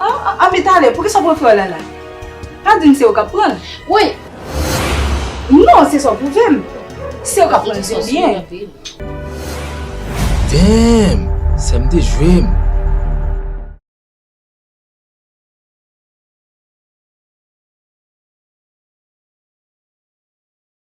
Aah anbe talè poukisa w pran fleur la la? Pa di m se ou kap pran l? Woy! Non se sa w pwouve m. Se ou kap pran l se byen. Damn! Sè m dejwe m.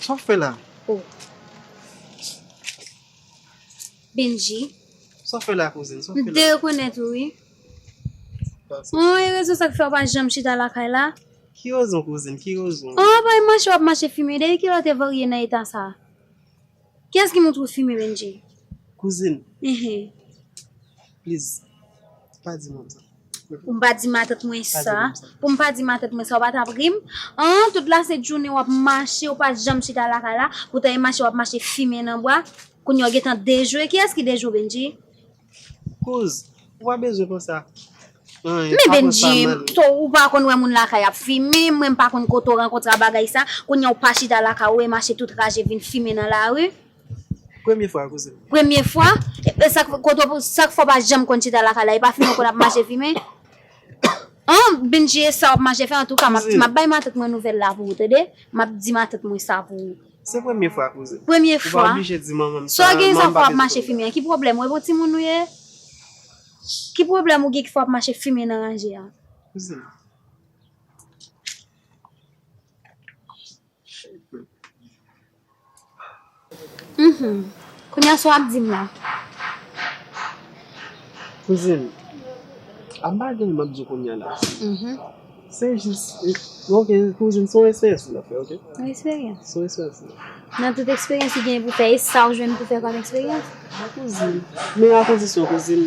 Sa wap fè la? Oh. Bendji. Sa wap fè la kouzin? Sa wap fè la? M te rekonèt ou wi. Oh, e rezon sa k fè ou pa janm chita lakay la? Ki rezon kouzin? Ki rezon? Oh, pa e mache wap mache fimen. Depi kilè ou te varye nan eta sa? Kiyès ki montre ou fimen Bendji? Kouzin. Ehe. Please pa di moun sa. Pou m pa di matant mwen sa. Pou m pa di matant mwen sa ou pa t ap ri m? An tout la sent jounen w ap mache ou pa janm chita lakay la poutan e mache w ap mache fimen nan bwa kounye a w gentan dejwe kiyès ki dejwe w Bendjy? Kouz ou pa bezwen konsa anyen pa konsa menm. Men Bendjy ou pa konn wè moun lakay ap fimen mwen m pa konn kote w rankontre a bagay sa kounye a w pa chita lakay ou e mache tout raje vin fimen nan lari. Premye fwa kouzen m. Premye fwa? E sak kote w sak fè w pa janm konn chita lakay la? E pa fimen w konn ap mache fimen? An! Bndye e sa w ap mache fè antouka m ap di m ap bay matant mwen nouvèl la pou ou tande. M ap di matant mwen sa pou ou. Se premye fwa kouzen. Premye fwa? Ou pa oblije di manman m sa. Sa w gen sa w fè w ap mache fimen an? Ki pwoblèm ou? E bon timoun ou ye? Ki pwoblèm ou gen ki fè w ap mache fimen nan ranje an? Kouzen m. Chèlbè. Humm kounya sa wap dim la. Kouzin ap bagay map diw kounya la se jis ok kouzin son esperyans li ap fè ok. Son esperyans. Son esperyans li ap fè. Nan tout esperyans li genyen pou fè esaw jwenn pou fè kòm esperyans. Wi kouzin men akondisyon kouzin.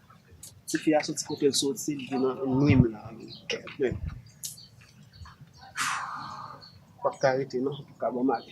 Ti fi a soti kotel soti li vin nan nwim la wi kèlbè Pap ka rete non li paka banm ale.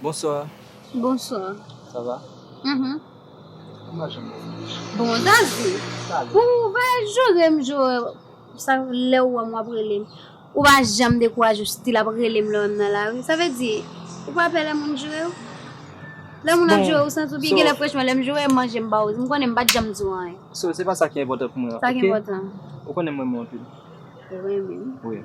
Bonsoir. Bonsoir. Sa va? Uhmm. Bon Zazu, pou ou pa jere m jere m, sa lè ou wè m w ap rele m, ou pa janm dekouraje w still ap rele m lè w wè m nan lari, sa vle di ou pa pè lè moun jere w? Lè moun ap jere w santi w byen genlè franchman lè m jere w manje m ba w, m konnen m pa t janm di w anyen. So se pa sa ki enpòtan pou mwen ok. Sa ki enpòtan? Ou konnen m renmen w anpil. Ou renmen m? Wi.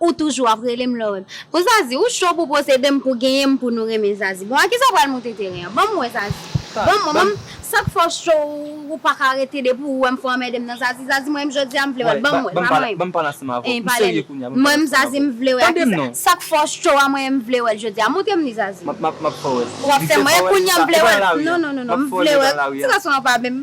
Ou toujou ap rele m love. Bon zazi ou cho pou posede m pou genyen m pou nou renmen zazi bon a kisa ou pral moute teren an banm wè zazi banm wè banm sak fè w cho ou paka rete depi ou wè m fè anmède m nan zazi zazi mwen menm jodia m vle wè banm wè banm wè banm pale ansanm avè w m serye kounya banm pale ansanm avè w tande m non sak fè w cho a mwen menm m vle wè l jodia moute m li zazi map fè w wè l ou ap fè m wè kounya m vle wè l non non non non m vle wè l ti gason an pa menm.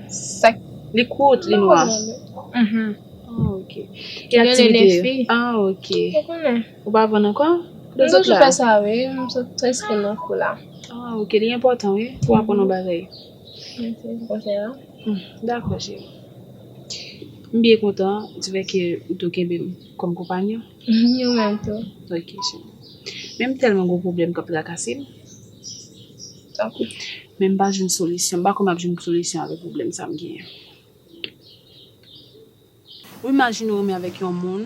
Sak li kout li nwa. Ki aktivite yo. Ou pa vann anko. Mwen toujou fè sa wi. Mwen sot preske nan kou la. Li enpotan wi pou aprann yon bagay. Mèsi pou konsèy la. Dakò cheri. M byen kontan di fè ke ou tou kenbe m kòm konpanyon. Ou menm tou. Ok cheri. Men m tèlman gen yon pwoblèm k ap trakase m. Men m pa jwenn solisyon. M pa kwè m ap jwenn solisyon avèk pwoblèm sa m genyen. Ou imajine ou renmen avèk yon moun,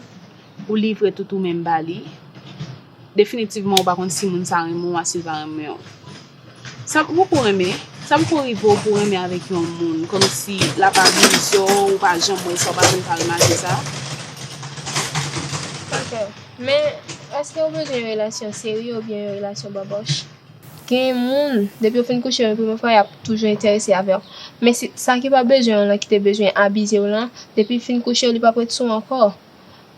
ou livre tout ou menm ba li, definitivman ou pa konn si moun sa renmen w a, si l pa renmen w. Sa poko renmen, sa poko rive w pou w renmen avèk yon moun, kòmsi l ap abize w, ou pa janm wè sa, ou pa janm ka remake sa? Ok. Men, èske ou bezwen yon relasyon serye oubyen yon relasyon bòbòch? Gen moun, depi yo fin kouche yon premye fwa y ap toujou enterese avè w. Men si sa ki pa bezwen w lan ki te bezwen abize w lan, depi l fin kouche w li p ap ret sou w ankò.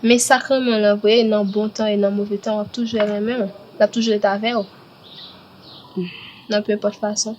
Men sa k renmen w lan vre, nan bon tan e nan move tan w ap toujou renmen w, l ap toujou ret avè w nan penpòt fason.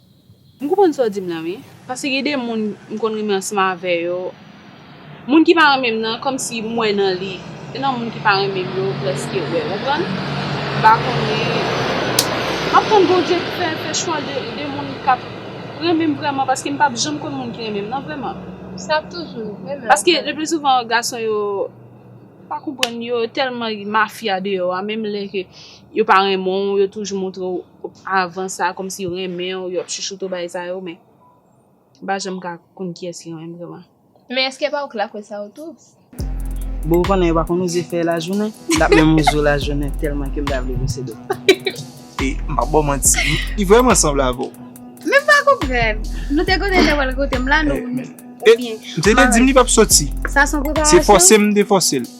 M konprann sa w di m lan wi. Paske gen de moun m konn renmen ansanm avè yo. Moun ki pa renmen m nan kòmsi m wè nan li. Se nan moun ki pa renmen m yo m prèske wè. Konprann? M pa konnen. M ap tann Bondye fè fè chwa de moun k ap renmen m vrèman paske m p ap janm konn moun ki renmen m nan vrèman. Sa ap toujou renmen w. Paske le pli souvan gason yo pa konprann yo tèlman mafya deyò a menm lè ke yo pa renmen w yo toujou montre w. Avan sa a kòmsi yo renmen w, yo ap chouchoute w bagay sa yo men m pa janm ka konn kiyès ki renmen m vrèman. Men èske pa ou k la kwè sa yo tou? Bon ou konnen yo pa konn oze fè lajounen, m ta menm oze w lajounen tèlman ke m ta vle bwose dò m. E m pap ba w manti, li vrèman sanble avè w. Men m pa konprann, nou te konnen l te pral koute m la nou, oubyen. M te di m li pap soti, se fòse m te fòse l.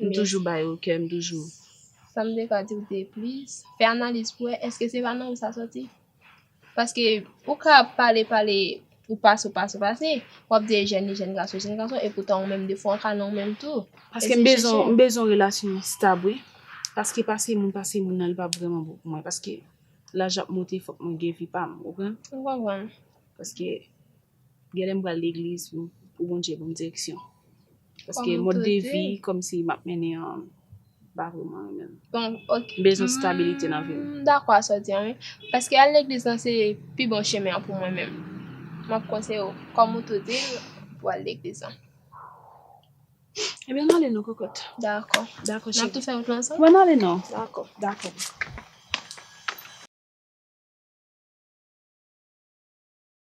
M toujou bay ou kè m toujou. Sa m te ka di w de plis. Fè analiz pou wè èske se pa nan ou sa soti. Paske ou ka pale pale ou pase ou pase ou pase, w ap di e jèn li jèn gason li jèn gason e poutan ou menm defwa w ka nan ou menm tou. Paske m bezwen m bezwen relasyon stab wi. Paske pase moun pase moun nan li pa vrèman bon pou mwen. Paske laj ap monte fòk mwen gen vi pa m ou konprann? M konprann. Paske. Genlè m pral legliz pou Bondye banm direksyon paske mòd de vi kòmsi map mennen an m pa vrèman renmen l. Bon ok. M bezwen stabilite nan vi m. M dakò a sa w di an wi. Paske al legliz lan se pi bon chemen an pou mwen menm. M ap konseye w kòm ou tou di l pou w al legliz lan. Ebyen n ale non kòkòt. Dakò. Dakò cheri. N ap tou fè wout lan ansanm? Wè n ale non. Dakò. Dakò.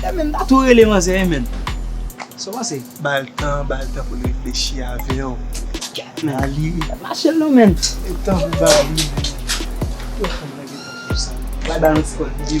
E men ta tou rele manzè e men. Sa w panse? Ba l tan, ba l tan pou l reflechi avè w. Nan li. Mache l non men. E tan pou ba l li men. Yo fanm nan gen tan pou sa. Bay ba l yon ti kòd li.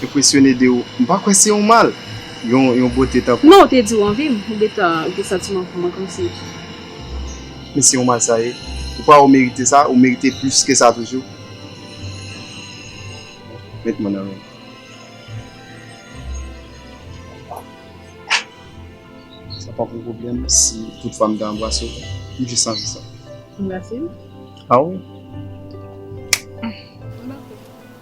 Enpresyone de ou. M pa kwè se yon mal, yon bote tankou. Non, ou te di ou anvi m, ou gentan gen santiman pou mwen kòmsi. Men se yon mal sa ye. Ou kwè ou merite sa, ou merite plis ke sa toujou. Met mwen nan men ou. Sa pap yon pwoblèm si tout fwa m ta anbrase ou, m jis anvi sa. Anbrase m? A wi.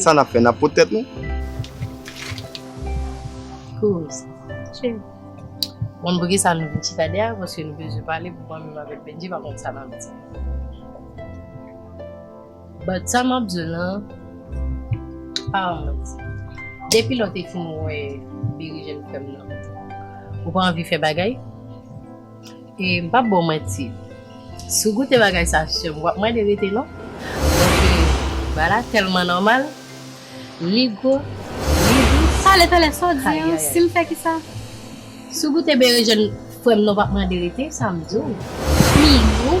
Sa nap fè nap pot tèt nou. Kouz. Che. Moun pou ki sa nou vin chita de a paske nou bezwen pale pou mwen menm avèk Bendji pa konn sa nap di. But sa map di w lan pa yon manti. Depi lè w te fin wè Berejèn frè m nan ou pa anvi fè bagay? E m pap ba w manti si w goute bagay sa sè m w ap mande rete non paske bagay la tèlman nòmal li gwo li dous. Pale pale sa w di an si m fè kisa? Si w goute berejèn frè m non w pap mande rete sa m di w li gou.